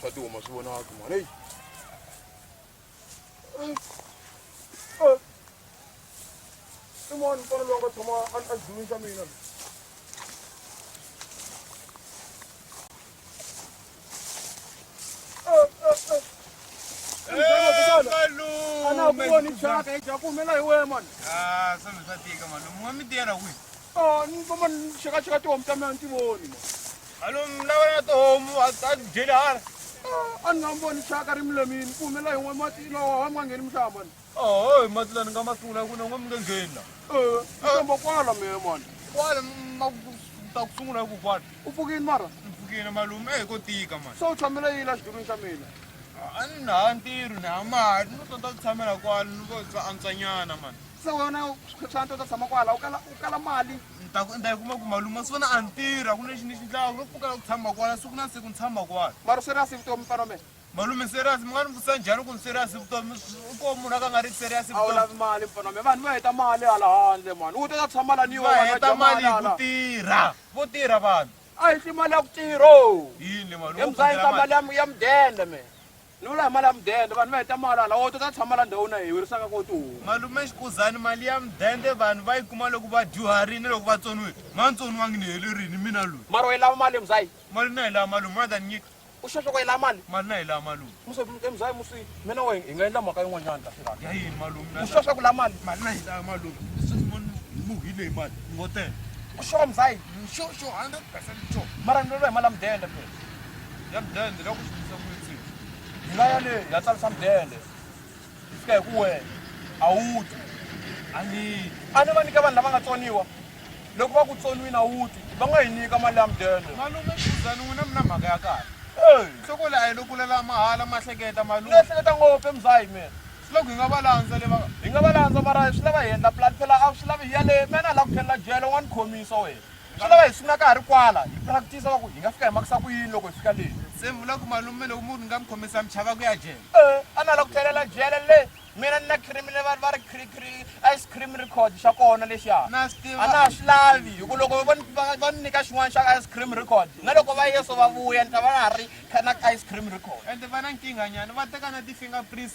swa tihomo swi vonaka mhani eyi i mani mfana loyi a nga tshama a dlulisa mina anakuvoni chaka eja ku humela hi wena mani sasatiika mani mun'wa mi tiyela kwihi ni voma ni xekaxeka tihomu ta mina ni ti voni mani Alo mna wena tihomu a a ti dyeli hala a ni nga mi voni xaka ri mi lemini ku humela hi n'we mati lowa wa mi nga ngheni mi xava mani oho hi mati la ni nga ma sungula hi ku na n'we mi nge ngheni la Eh, mi famba kwala mehe mani kwala m- ma ku- ta ku sungula hi ku kwala u pfukini mara ni pfukile malume ehi ko tika mani se u tshamela yini la xidulwini xa mina a ni na ha ntirho ni ha mali ni tonta ku tshamela kwala ni vo bya antswanyana mani se wena xantsa u ta tshama kwala u kala u kala mali ni ta ku ni ta yi kuma ku malume wa swi vona a ni tirha ku lexi ni xi ndlaka ro pfuka la ku tshama kwala siku na siku ni tshama kwala mara serious vutomi mfana mina malume serious mi nga ni vutisa njhani ku ni serious vutomi i ko munhu a ka nga ri serious a wu vutomi lavi mali mfana mina vanhu va heta mali hala handle mani u teka tshama la ni yo va wena heta dya mali hi ku hala. tirha vo tirha vanhu a yi hli mali ya ku tirho yini le malume u emzayini ka khongela mali mali ya mu- ya mudende me Ni vula hi mali ya mudende vanhu va heta mali hala wo tota tshama la ndhawini a hi wirisaka ko tihomu. Malume Xikuzani mali ya mudende vanhu va yi kuma loko va dyuharini loko va tsoniwile ma tsoniwangi ni helerini mina loyi. Mara u yi lava mali mzai? Mali na yi lava malume more than nyika. U sure swa ku u yi lava mali? Mali na yi lava malume. Musi e mzai musi me na wehe hi nga endla mhaka yin'wanyana ta fikaka. Ya yini malume? U sure swa ku u lava mali? Mali na yi lava malume. Ni muhile hi mali ni ngo teka. U sure mzai? Ni sure sure hundred percent sure. Mara ni vulavula hi mali ya mudende phela. ya mudende loko xi tisa n'wini hi nga ya le ya tsarisa mudende swi fika hi ku wena a wu twi a ni a ni va nyika vanhu lava nga tsoniwa loko va ku tsoniwini a wu twi va nga yi nyika mali ya mudende malume khuzani n'wina mi na mhaka ya kahle nhloko leyi a yi lokulela mahala ma hleketa malume ni ehleketa ngopfu emzahi mina swi loko hi nga va landza le va hi nga va landza mara swi lava hi endla plan phela a swi lavi hi ya le mina a lava ku tlhelela jele wa ni khomisa wena swi lava hi sungula ka ha ri kwala hi practice va ku hi nga fika hi makisa ku yini loko hi fika leyi se vula ku malume loko munhu ni nga mi khomisa mi chava ku ya jele e a na la ku tlhelela jele le mina ni na cream le va ri ice cream record xa kona lexiya a na ha swi lavi hi ku loko va ni nyika xin'wana xa ice cream record na loko va yeso va vuya ni ta va na ha ri na ice cream record ende va na nkinganyana va teka na ti-finger prints